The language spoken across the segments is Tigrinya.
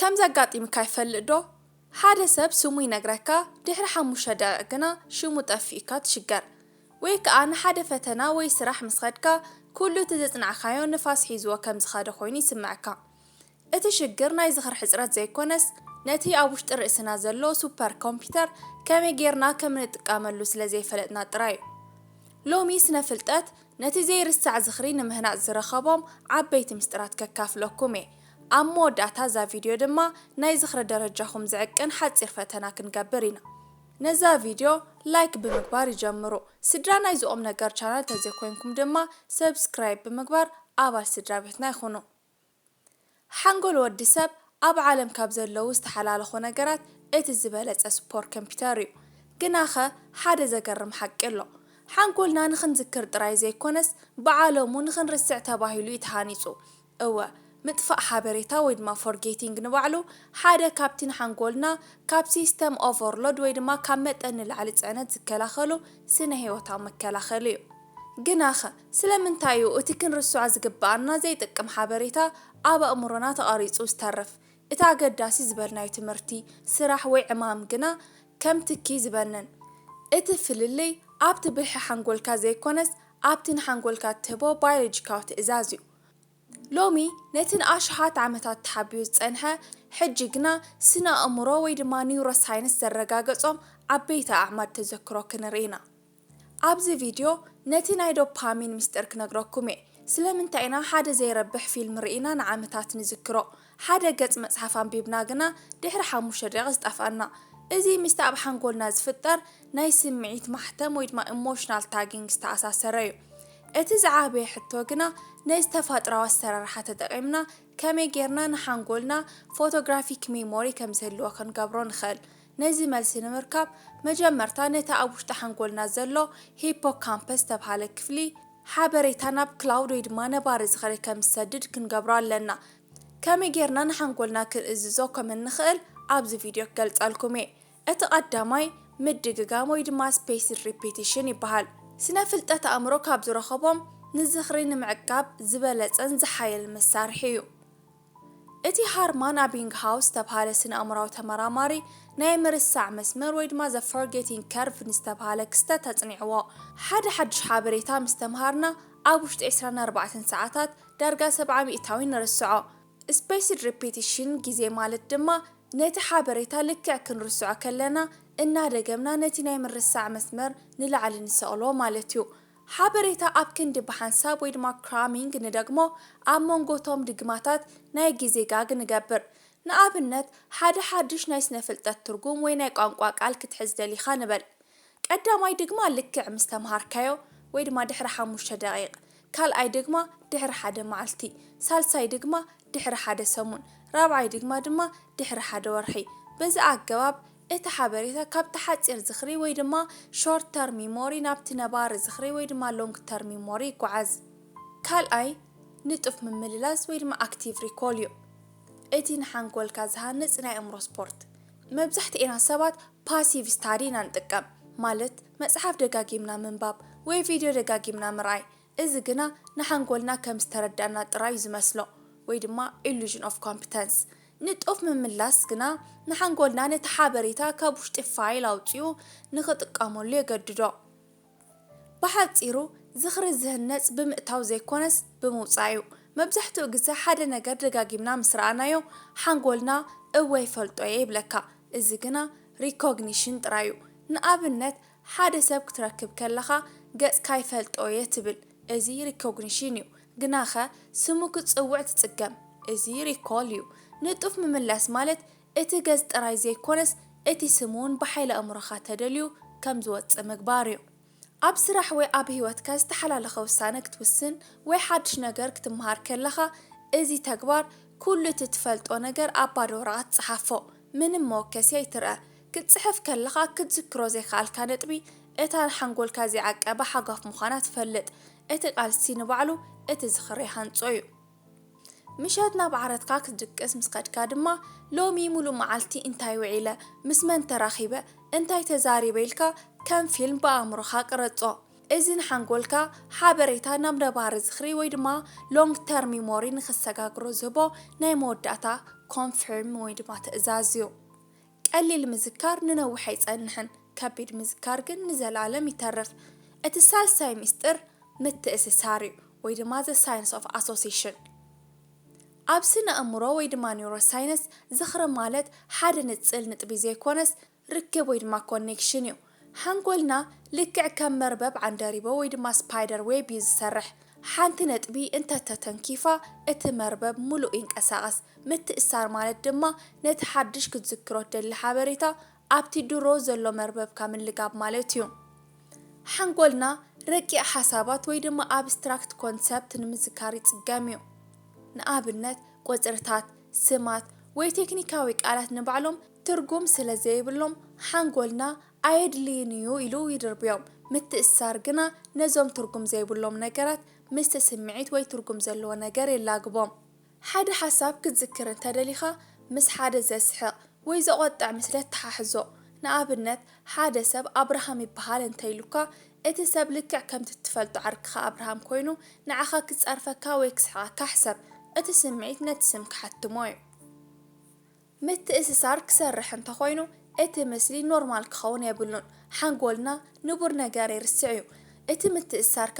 ከምዚ ኣጋጢምካ ይፈልጥ ዶ ሓደ ሰብ ስሙ ይነግረካ ድሕሪ ሓሙሽተ ደቂቅ ግና ሽሙ ጠፊኡካ ትሽገር ወይ ከኣ ንሓደ ፈተና ወይ ስራሕ ምስ ከድካ ኩሉ እቲ ዘጽናዕካዮ ንፋስ ሒዝዎ ከም ዝከደ ኮይኑ ይስመዐካ እቲ ሽግር ናይ ዝክሪ ሕጽረት ዘይኮነስ ነቲ ኣብ ውሽጢ ርእስና ዘሎ ሱፐር ኮምፒተር ከመይ ጌርና ከም እንጥቃመሉ ስለ ዘይፈለጥና ጥራዩ ሎሚ ስነ ፍልጠት ነቲ ዘይርሳዕ ዝክሪ ንምህናጽ ዝረከቦም ዓበይቲ ምስጢራት ከካፍለኩም እየ ኣብ መወዳእታ እዛ ቪድዮ ድማ ናይ ዝኽሪ ደረጃኹም ዝዕቅን ሓጺር ፈተና ክንገብር ኢና። ነዛ ቪድዮ ላይክ ብምግባር ይጀምሩ። ስድራ ናይዚ ቁምነገር ቻናል ተዘይኮይንኩም ድማ ሰብስክራይብ ብምግባር ኣባል ስድራቤትና ይኹኑ። ሓንጎል ወዲ ሰብ ኣብ ዓለም ካብ ዘለዉ ዝተሓላለኹ ነገራት እቲ ዝበለጸ ስፖር ከምፒተር እዩ። ግናኸ ሓደ ዘገርም ሓቂ ኣሎ። ሓንጎልና ንኽንዝክር ጥራይ ዘይኮነስ ብዓለሙ ንኽንርስዕ ተባሂሉ እዩ ተሃኒጹ። እወ፣ ምጥፋእ ሓበሬታ ወይ ድማ ፎርጌቲንግ ንባዕሉ ሓደ ካብቲ ንሓንጎልና ካብ ሲስተም ኦቨርሎድ ወይ ድማ ካብ መጠን ንላዕሊ ጽዕነት ዝከላኸሉ ስነ-ህይወታዊ መከላኸሊ እዩ። ግናኸ፣ ስለምንታይ እዩ እቲ ክንርስዖ ዝግብኣና ዘይጠቅም ሓበሬታ ኣብ ኣእምሮና ተቐሪጹ ዝተርፍ፣ እቲ ኣገዳሲ ዝበልናዮ ትምህርቲ፣ ስራሕ ወይ ዕማም ግና ከም ትኪ ዝበንን? እቲ ፍልልይ ኣብቲ ብልሒ ሓንጎልካ ዘይኮነስ ኣብቲ ንሓንጎልካ እትህቦ ባዮሎጂካዊ ትእዛዝ እዩ። ሎሚ ነቲ ንኣሽሓት ዓመታት ተሓቢኡ ዝጸንሐ ሕጂ ግና ስነ-ኣእምሮ ወይ ድማ ኒውሮሳይንስ ዘረጋገጾም ዓበይቲ ኣዕማድ ተዘክሮ ክንርኢ ኢና። ኣብዚ ቪድዮ ነቲ ናይ ዶፓሚን ምስጢር ክነግረኩም'የ። ስለምንታይ ኢና ሓደ ዘይረብሕ ፊልም ርኢና ንዓመታት ንዝክሮ? ሓደ ገጽ መጽሓፍ ኣንቢብና ግና ድሕሪ ሓሙሽተ ደቒቕ ዝጠፍኣና። እዚ ምስቲ ኣብ ሓንጎልና ዝፍጠር ናይ ስምዒት ማሕተም ወይ ድማ ኢሞሽናል ታጊንግ ዝተኣሳሰረ እዩ። እቲ ዝዓበየ ሕቶ ግና ነዚ ተፋጥራዊ ኣሰራርሓ ተጠቒምና ከመይ ጌርና ንሓንጎልና ፎቶግራፊክ ሜሞሪ ከም ዝህልዎ ክንገብሮ ንኽእል? ነዚ መልሲ ንምርካብ መጀመርታ ነቲ ኣብ ውሽጢ ሓንጎልና ዘሎ ሂፖካምፐስ ዝተብሃለ ክፍሊ ሓበሬታ ናብ ክላውድ ወይ ድማ ነባሪ ዝኽሪ ከም ዝሰድድ ክንገብሮ ኣለና። ከመይ ጌርና ንሓንጎልና ክንእዝዞ ከም እንኽእል ኣብዚ ቪድዮ ክገልጸልኩም እየ። እቲ ቀዳማይ ምድግጋም ወይ ድማ ስፔስድ ሪፒቲሽን ይበሃል። ስነ-ፍልጠት ኣእምሮ ካብ ዝረኸቦም ንዝኽሪ ንምዕቃብ ዝበለጸን ዝሓየልን መሳርሒ እዩ። እቲ ሃርማን ኣቢንግሃውስ ዝተብሃለ ስነ-ኣእምሮኣዊ ተመራማሪ ናይ ምርሳዕ መስመር ወይ ድማ the forgetting curve ንዝተብሃለ ክስተት ኣጽኒዕዎ። ሓደ ሓድሽ ሓበሬታ ምስ ተምሃርና ኣብ ውሽጢ ዕስራን ኣርባዕተን ሰዓታት ዳርጋ ሰብዓ ሚእታዊ ንርስዖ። Spaced Repetition ግዜ ማለት ድማ ነቲ ሓበሬታ ልክዕ ክንርስዖ ከለና እናደገምና ነቲ ናይ ምርሳዕ መስመር ንላዕሊ ንሰቕሎ ማለት እዩ። ሓበሬታ ኣብ ክንዲ ብሓንሳብ ወይ ድማ Cramming ንደግሞ ኣብ መንጎ እቶም ድግማታት ናይ ግዜ ጋግ ንገብር። ንኣብነት ሓደ ሓድሽ ናይ ስነ-ፍልጠት ትርጉም ወይ ናይ ቋንቋ ቃል ክትሕዝ ደሊኻ ንበል። ቀዳማይ ድግማ ልክዕ ምስ ተምሃርካዮ ወይ ድማ ድሕሪ ሓሙሽተ ደቒቕ፣ ካልኣይ ድግማ ድሕሪ ሓደ መዓልቲ፣ ሳልሳይ ድግማ ድሕሪ ሓደ ሰሙን፣ ራብዓይ ድግማ ድማ ድሕሪ ሓደ ወርሒ። በዚ ኣገባብ እቲ ሓበሬታ ካብቲ ሓጺር ዝኽሪ ወይ ድማ Short Term Memory ናብቲ ነባሪ ዝኽሪ ወይ ድማ Long Term Memory ይጓዓዝ። ካልኣይ ንጡፍ ምምልላስ ወይ ድማ Active Recall እዩ። እቲ ንሓንጎልካ ዝሃንጽ ናይ ኣእምሮ ስፖርት። መብዛሕትኤና ሰባት ፓሲቭ ስታዲ ኢና ንጥቀም፣ ማለት መጽሓፍ ደጋጊምና ምንባብ ወይ ቪድዮ ደጋጊምና ምርኣይ፣ እዚ ግና ንሓንጎልና ከም ዝተረዳእና ጥራይ'ዩ ዝመስሎ ወይ ድማ ኢሉዥን ኦፍ ኮምፕተንስ። ንጡፍ ምምላስ ግና ንሓንጎልና ነቲ ሓበሬታ ካብ ውሽጢ ፋይል ኣውጺኡ ንኽጥቀመሉ የገድዶ። ብሓጺሩ ዝኽሪ ዝህነጽ ብምእታው ዘይኮነስ ብምውጻእ'ዩ። መብዛሕትኡ ግዘ ሓደ ነገር ደጋጊምና ምስ ረኣናዮ ሓንጎልና እወ ይፈልጦ'የ ይብለካ፣ እዚ ግና ሪኮግኒሽን ጥራይ'ዩ። ንኣብነት ሓደ ሰብ ክትረክብ ከለኻ ገጽካ ይፈልጦ'የ ትብል፣ እዚ ሪኮግኒሽን'ዩ። ግናኸ ስሙ ክትጽውዕ ትጽገም፣ እዚ ሪኮል'ዩ። ንጡፍ ምምላስ ማለት እቲ ገጽ ጥራይ ዘይኮነስ እቲ ስም እውን ብሓይሊ ኣእምሮኻ ተደልዩ ከም ዝወጽእ ምግባር እዩ። ኣብ ስራሕ ወይ ኣብ ህይወትካ ዝተሓላለኸ ውሳነ ክትውስን ወይ ሓድሽ ነገር ክትመሃር ከለኻ እዚ ተግባር ኩሉ እቲ ትፈልጦ ነገር ኣብ ባዶ ወረቐት ጸሓፎ። ምንም መወከሲ ኣይትርኣ። ክትጽሕፍ ከለኻ ክትዝክሮ ዘይከኣልካ ነጥቢ እታ ንሓንጎልካ ዘይዓቀባ ሓጓፍ ምዃና ትፈልጥ። እቲ ቃልሲ ንባዕሉ እቲ ዝኽሪ ይሃንጾ እዩ። ምሸት ናብ ዓራትካ ክትድቅስ ምስ ከድካ ድማ፣ ሎሚ ምሉእ መዓልቲ እንታይ ውዒለ፣ ምስ መን ተራኺበ፣ እንታይ ተዛሪበ ኢልካ ከም ፊልም ብኣእምሮኻ ቅረጾ። እዚ ንሓንጎልካ ሓበሬታ ናብ ነባሪ ዝኽሪ ወይ ድማ Long Term Memory ንኽሰጋግሮ ዝህቦ ናይ መወዳእታ Confirm ወይ ድማ ትእዛዝ እዩ። ቀሊል ምዝካር ንነዊሕ ኣይጸንሕን፣ ከቢድ ምዝካር ግን ንዘለኣለም ይተርፍ። እቲ ሳልሳይ ሚስጥር ምትእስሳር እዩ፣ ወይ ድማ the science of association። ኣብ ስነ-እምሮ ወይ ድማ ኒውሮሳይንስ፣ ዝኽሪ ማለት ሓደ ንጽል ንጥቢ ዘይኮነስ ርክብ ወይ ድማ ኮኔክሽን እዩ። ሓንጎልና ልክዕ ከም መርበብ ዓንደሪቦ ወይ ድማ ስፓይደር ዌብ እዩ ዝሰርሕ። ሓንቲ ነጥቢ እንተ ተተንኪፋ እቲ መርበብ ምሉእ ይንቀሳቐስ። ምትእስሳር ማለት ድማ ነቲ ሓድሽ ክትዝክሮ ትደሊ ሓበሬታ ኣብቲ ድሮ ዘሎ መርበብካ ምልጋብ ማለት እዩ። ሓንጎልና ረቂቕ ሓሳባት ወይ ድማ ኣብስትራክት ኮንሰፕት ንምዝካር ይጽገም እዩ። ንኣብነት ቁጽርታት፣ ስማት ወይ ቴክኒካዊ ቃላት ንባዕሎም። ትርጉም ስለ ዘይብሎም ሓንጎልና ኣየድልይን እዩ ኢሉ ይድርብዮም። ምትእስሳር ግና ነዞም ትርጉም ዘይብሎም ነገራት ምስቲ ስምዒት ወይ ትርጉም ዘለዎ ነገር የላግቦም። ሓደ ሓሳብ ክትዝክር እንተ ደሊኻ ምስ ሓደ ዘስሕቕ ወይ ዘቖጥዕ ምስሊ ኣተሓሕዞ። ንኣብነት ሓደ ሰብ ኣብርሃም ይበሃል እንተ ኢሉካ፣ እቲ ሰብ ልክዕ ከምቲ እትፈልጦ ዓርክኻ ኣብርሃም ኮይኑ ንዓኻ ክጸርፈካ ወይ ክስሕቐካ ሕሰብ። እቲ ስምዒት ነቲ ስም ክሓትሞ እዩ። ምትእስሳር ክሰርሕ እንተኾይኑ እቲ ምስሊ ኖርማል ክኸውን የብሉን ሓንጎልና ንቡር ነገር ይርስዕ እዩ እቲ ምትእስሳርካ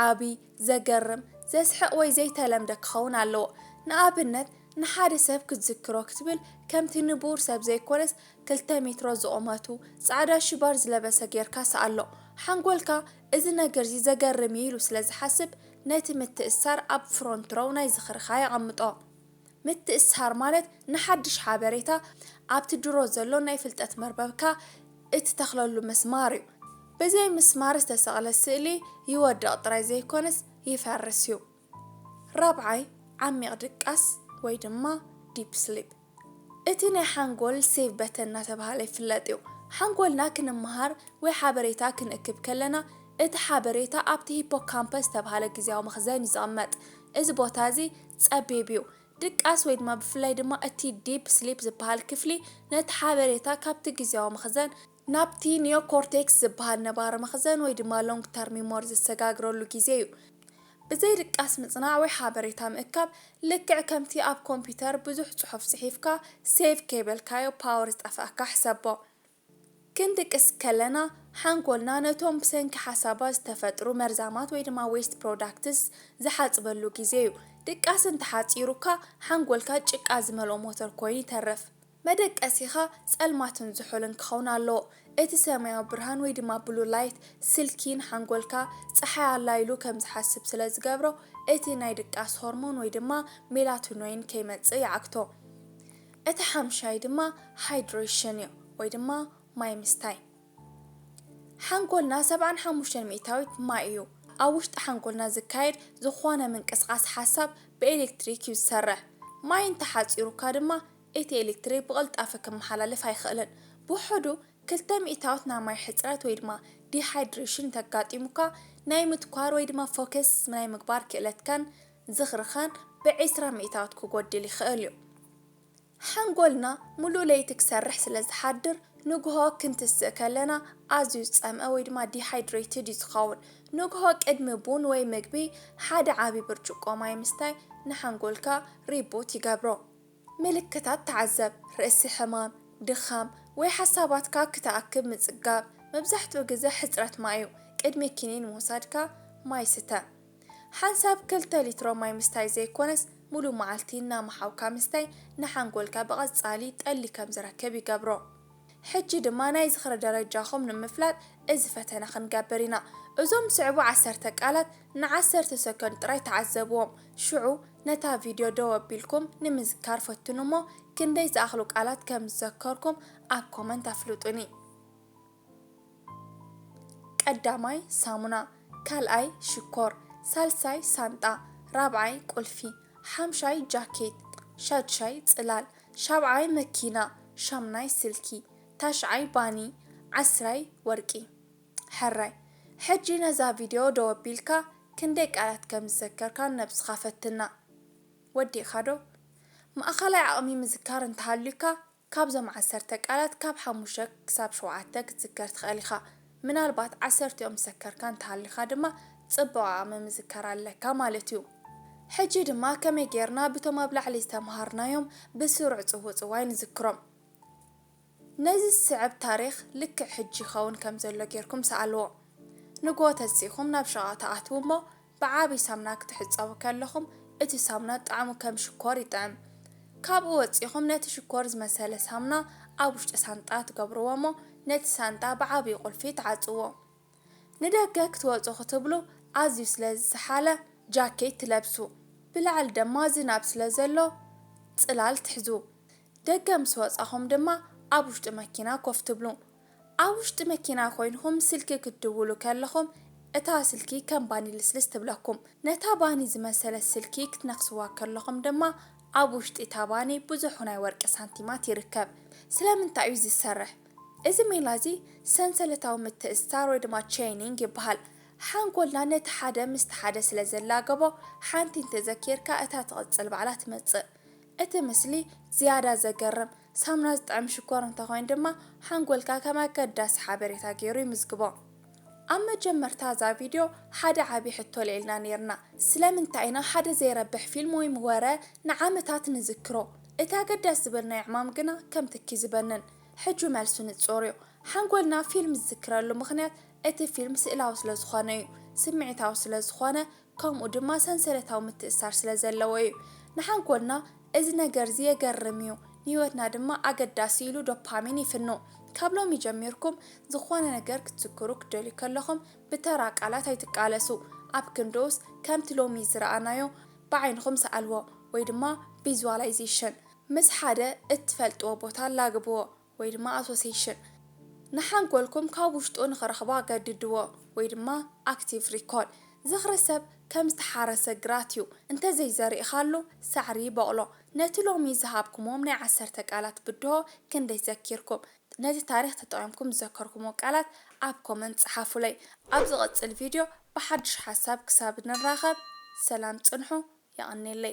ዓቢ ዘገርም ዘስሕቅ ወይ ዘይተለምደ ክኸውን ኣለዎ ንኣብነት ንሓደ ሰብ ክትዝክሮ ክትብል ከምቲ ንቡር ሰብ ዘይኮነስ ክልተ ሜትሮ ዝቁመቱ ጻዕዳ ሽባር ዝለበሰ ጌርካ ስኣሎ ሓንጎልካ እዚ ነገርዚ ዘገርም እዩ ኢሉ ስለዝሓስብ ነቲ ምትእስሳር ኣብ ፍሮንትሮው ናይ ዝኽርኻ የቀምጦ ምትእስሳር ማለት ንሓድሽ ሓበሬታ ኣብቲ ድሮ ዘሎ ናይ ፍልጠት መርበብካ እትተኽለሉ ምስማር እዩ። ብዘይ ምስማር ዝተሰቕለ ስእሊ ይወድቕ ጥራይ ዘይኮነስ ይፈርስ እዩ። ራብዓይ፣ ዓሚቕ ድቃስ ወይ ድማ Deep Sleep እቲ ናይ ሓንጎል ሴቭ በተን እናተብሃለ ይፍለጥ እዩ። ሓንጎልና ክንመሃር፣ ወይ ሓበሬታ ክንእክብ ከለና፣ እቲ ሓበሬታ ኣብቲ ሂፖካምፐስ ዝተብሃለ ግዝያዊ መኽዘን እዩ ዝቕመጥ። እዚ ቦታ እዚ ጸቢብ እዩ። ድቃስ ወይ ድማ ብፍላይ ድማ እቲ ዲፕ ስሊፕ ዝበሃል ክፍሊ ነቲ ሓበሬታ ካብቲ ግዝያዊ መኽዘን፣ ናብቲ ኒዮኮርቴክስ ዝበሃል ነባሪ መኽዘን ወይ ድማ ሎንግ ተርም ሚሞሪ ዘሰጋግረሉ ግዜ እዩ። ብዘይ ድቃስ ምጽናዕ ወይ ሓበሬታ ምእካብ ልክዕ ከምቲ ኣብ ኮምፒተር ብዙሕ ጽሑፍ ጽሒፍካ ሴቭ ከይበልካዮ ፓወር ዝጠፍኣካ ሕሰቦ። ክንድቅስ ከለና ሓንጎልና ነቶም ብሰንኪ ሓሳባት ዝተፈጥሩ መርዛማት ወይ ድማ Waste Products ዝሓጽበሉ ግዜ እዩ። ድቃስ እንተሓጺሩካ ሓንጎልካ ጭቃ ዝመልኦ ሞተር ኮይኑ ይተርፍ። መደቀሲኻ ጸልማትን ዝሑልን ክኸውን ኣለዎ። እቲ ሰማያዊ ብርሃን ወይ ድማ Blue Light ስልኪ ንሓንጎልካ ጸሓይ ኣላ ኢሉ ከም ዝሓስብ ስለ ዝገብሮ እቲ ናይ ድቃስ ሆርሞን ወይ ድማ ሜላቶኖይን ከይመጽእ ይዓግቶ። እቲ ሓምሻይ ድማ Hydration እዩ ወይ ድማ ማይ ምስታይ። ሓንጎልና ሰብዓን ሓሙሽተን ሚእታዊት ማይ እዩ። ኣብ ውሽጢ ሓንጎልና ዝካየድ ዝኾነ ምንቅስቓስ ሓሳብ ብኤሌክትሪክ እዩ ዝሰርሕ። ማይ እንተሓጺሩካ ድማ እቲ ኤሌክትሪክ ብቕልጣፈ ክመሓላለፍ ኣይኽእልን። ብውሑዱ ክልተ ሚእታዊት ናይ ማይ ሕጽረት ወይ ድማ Dehydration እንተጋጢሙካ ናይ ምትኳር ወይ ድማ Focus ናይ ምግባር ክእለትካን ዝኽርኸን ብዒስራ ሚእታውት ክጎድል ይኸእል እዩ። ሓንጎልና ሙሉእ ለይቲ ክሰርሕ ስለ ዝሓድር ንግሆ ክንትስእ ከለና ኣዝዩ ዝጸምእ ወይ ድማ ዲሃይድረይትድ እዩ ዝኸውን። ንግሆ ቅድሚ ቡን ወይ ምግቢ ሓደ ዓቢ ብርጭቆ ማይ ምስታይ ንሓንጎልካ ሪቡት ይገብሮ። ምልክታት ተዓዘብ፣ ርእሲ ሕማም፣ ድኻም ወይ ሓሳባትካ ክትኣክብ ምጽጋብ፣ መብዛሕትኡ ግዘ ሕጽረት ማይ እዩ። ቅድሚ ኪኒን ምውሳድካ ማይ ስተ። ሓንሳብ ክልተ ሊትሮ ማይ ምስታይ ዘይኮነስ ሙሉእ መዓልቲ እናመሓውካ ምስታይ ንሓንጎልካ ብቐጻሊ ጠሊ ከም ዝረክብ ይገብሮ። ሕጂ ድማ ናይ ዝኽሪ ደረጃኹም ንምፍላጥ እዚ ፈተነ ክንገብር ኢና። እዞም ዝስዕቡ ዓሰርተ ቃላት ንዓሰርተ ሰኮንድ ጥራይ ተዓዘብዎም፣ ሽዑ ነታ ቪድዮ ደው ኣቢልኩም ንምዝካር ፈትኑ እሞ ክንደይ ዝኣኽሉ ቃላት ከም ዝዘከርኩም ኣብ ኮመንት ኣፍልጡኒ። ቀዳማይ ሳሙና ካልኣይ ሽኮር ሳልሳይ ሳንጣ ራብዓይ ቁልፊ ሓምሻይ ጃኬት ሻድሻይ ጽላል ሻብዓይ መኪና ሻምናይ ስልኪ ታሽዓይ ባኒ ዓስራይ ወርቂ ሕራይ ሕጂ ነዛ ቪድዮ ደው ኣቢልካ ክንደይ ቃላት ከም ዝዘከርካ ንነብስኻ ፈትና ወዲእካ ዶ ማእከላይ ዓቕሚ ምዝካር እንተሃልዩካ ካብዞም ዓሰርተ ቃላት ካብ ሓሙሽተ ክሳብ ሸውዓተ ክትዝከር ትኽእል ኢኻ። ምናልባት ዓሰርቲኦም ዝሰከርካ እንተሃሊኻ ድማ ጽቡቓ ምምዝካር ኣለካ ማለት እዩ። ሕጂ ድማ ከመይ ጌርና ብቶም ኣብ ላዕሊ ዝተመሃርናዮም ብስሩዕ ጽውጽዋይ ንዝክሮም። ነዚ ዝስዕብ ታሪኽ ልክዕ ሕጂ ይኸውን ከም ዘሎ ጌርኩም ሰኣልዎ። ንግሆ ተሲእኹም ናብ ሸቓቕ ትኣትዉ እሞ ብዓቢ ሳምና ክትሕጸቡ ከለኹም እቲ ሳምና ጣዕሙ ከም ሽኮር ይጥዕም ካብኡ ወጺኹም ነቲ ሽኮር ዝመሰለ ሳምና ኣብ ውሽጢ ሳንጣ ትገብርዎ እሞ ነቲ ሳንጣ ብዓቢ ቁልፊ ትዓጽዎ ንደገ ክትወጹ ክትብሉ ኣዝዩ ስለ ዝሰሓለ ጃኬት ትለብሱ ብላዕሊ ደማ ዝናብ ስለ ዘሎ ጽላል ትሕዙ ደገ ምስ ወጻኹም ድማ ኣብ ውሽጢ መኪና ኮፍ ትብሉ ኣብ ውሽጢ መኪና ኮይንኹም ስልኪ ክትድውሉ ከለኹም እታ ስልኪ ከም ባኒ ልስልስ ትብለኩም። ነታ ባኒ ዝመሰለት ስልኪ ክትነኽስዋ ከለኹም ድማ ኣብ ውሽጢ እታ ባኒ ብዙሕ ናይ ወርቂ ሳንቲማት ይርከብ። ስለምንታይ እዩ እዚ ዝሰርሕ? እዚ ሜላ እዚ ሰንሰለታዊ ምትእስሳር ወይ ድማ ቼይኒንግ ይበሃል። ሓንጎልና ነቲ ሓደ ምስቲ ሓደ ስለ ዘላገቦ ሓንቲ እንተዘኪርካ እታ ትቕጽል ባዕላ ትመጽእ። እቲ ምስሊ ዝያዳ ዘገርም ሳሙና ዝጥዕም ሽኮር እንተኾይኑ ድማ ሓንጎልካ ከም ኣገዳሲ ሓበሬታ ገይሩ ይምዝግቦ። ኣብ መጀመርታ እዛ ቪድዮ ሓደ ዓቢ ሕቶ ኣልዒልና ኔርና፣ ስለምንታይ ኢና ሓደ ዘይረብሕ ፊልም ወይም ወረ ንዓመታት ንዝክሮ፣ እቲ ኣገዳሲ ዝበልናዮ ዕማም ግና ከም ትኪ ዝበንን? ሕጂ መልሱ ንጹር'ዩ። ሓንጎልና ፊልም ዝዝክረሉ ምኽንያት እቲ ፊልም ስእላዊ ስለዝኾነ'ዩ፣ ስምዒታዊ ስለዝኾነ፣ ከምኡ ድማ ሰንሰለታዊ ምትእስሳር ስለ ዘለዎ እዩ። ንሓንጎልና እዚ ነገር'ዚ የገርም እዩ፣ ንህይወትና ድማ ኣገዳሲ ኢሉ ዶፓሚን ይፍኑ። ካብ ሎሚ ጀሚርኩም ዝኾነ ነገር ክትዝክሩ ክትደልዩ ከለኹም ብተራ ቃላት ኣይትቃለሱ፣ ኣብ ክንድኡስ ከምቲ ሎሚ ዝረኣናዮ ብዓይንኹም ሰኣልዎ ወይ ድማ ቪዝዋላይዜሽን ምስ ሓደ እትፈልጥዎ ቦታ ኣላግብዎ። ወይ ድማ ኣሶሴሽን ንሓንጎልኩም ካብ ውሽጡ ንኽረኽቦ ኣገድድዎ ወይ ድማ ኣክቲቭ ሪኮል። ዝኽሪ ሰብ ከም ዝተሓረሰ ግራት እዩ፣ እንተ ዘይዘሪእኻሉ ሳዕሪ ይቦቕሎ። ነቲ ሎሚ ዝሃብኩምዎም ናይ ዓሰርተ ቃላት ብድሆ ክንደይ ዘኪርኩም? ነቲ ታሪኽ ተጠቒምኩም ዝዘከርኩምዎ ቃላት ኣብ ኮመንት ጽሓፉለይ። ኣብ ዝቕጽል ቪድዮ ብሓድሽ ሓሳብ ክሳብ ንራኸብ ሰላም ጽንሑ። የቐኔለይ።